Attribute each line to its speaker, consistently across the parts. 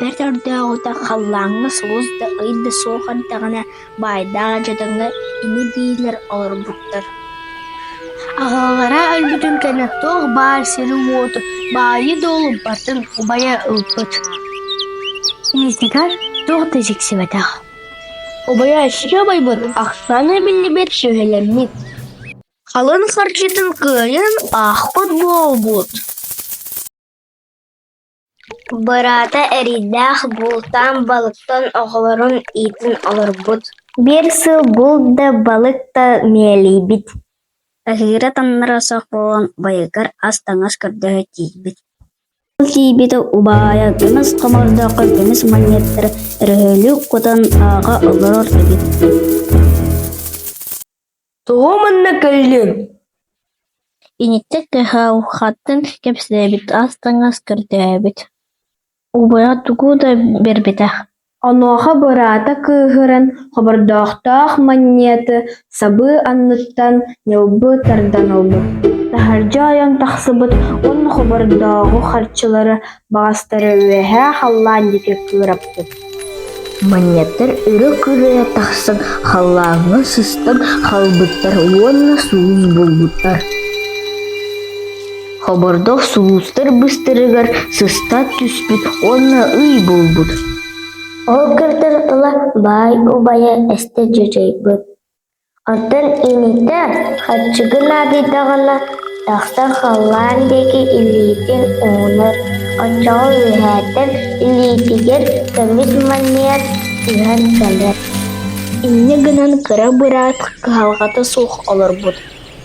Speaker 1: Бэрт өрдөөҕүтэ халлааҥҥа сулус да ый да суох эрдэҕинэ баайдаах дьадаҥы ини-биилэр олорбуттар Аҕалара өлбүтүн кэннэ туох баар сири-уоту, баайы-дуолу батын убайа ылбыт Инитигэр туох да дьиксибэтэх Убайааччыга убайбыт ахсаана биллибэт сүөһүлэммит, халыҥ харчытын кыайан аахпыт буолбут Быраата эриэйдээх бултаан балыктан оҕолорун иитин олорбут Биир сыл булт да балык да миэлийбит Аһыыра-тамнара суох буолан байыгар ас-таҥас көрдөһө тиийбит Ол тиийбитэ убаайа кымыс хомордооххо кымыс манньыаттара өрөһөлүүк кутан ааҕа олорор эбит Тоҕо манна кэллиҥ? Иниттэн кыһалҕаттан кэпсээбит ас-таҥас көрдөөбүт. Убайа тугу да биэрбэтэх Онуоха быраата кыыһыран, хобордоохтоох манньыаты сабыы анныттан ньылбы тардан ылбыт, таһырдьа ойон тахсыбыт уонна хобордооҕу харчылары, баҕастары үөһээ халлаан диэки кыыраппыт. Манньаттар өрө-күрэ тахсан халлааҥҥа сыстан хаалбыттар уонна суун булбуттар. Хобордох сулустар быстарыгар сыстан түспүт уонна ый булбут Ол кырдык ыла баай убайа эстэ дьадьайбыт. Оттон инитэ хаччыгы наадыйдаҕына тахсан халлаан диэки илиитин уунар. Оччоҕо үөһээтэн илиитигэр көмүс манньыат түһэн кэлэр. Инньэ гынан кыра быраат кыһалҕата суох олорбут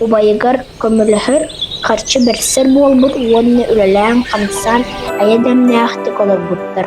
Speaker 1: убайыгар көмөлөһөр, харчы бэрсэр буолбут уонна үлэлээн-хамсаан айа дэмнээхтик олорбуттар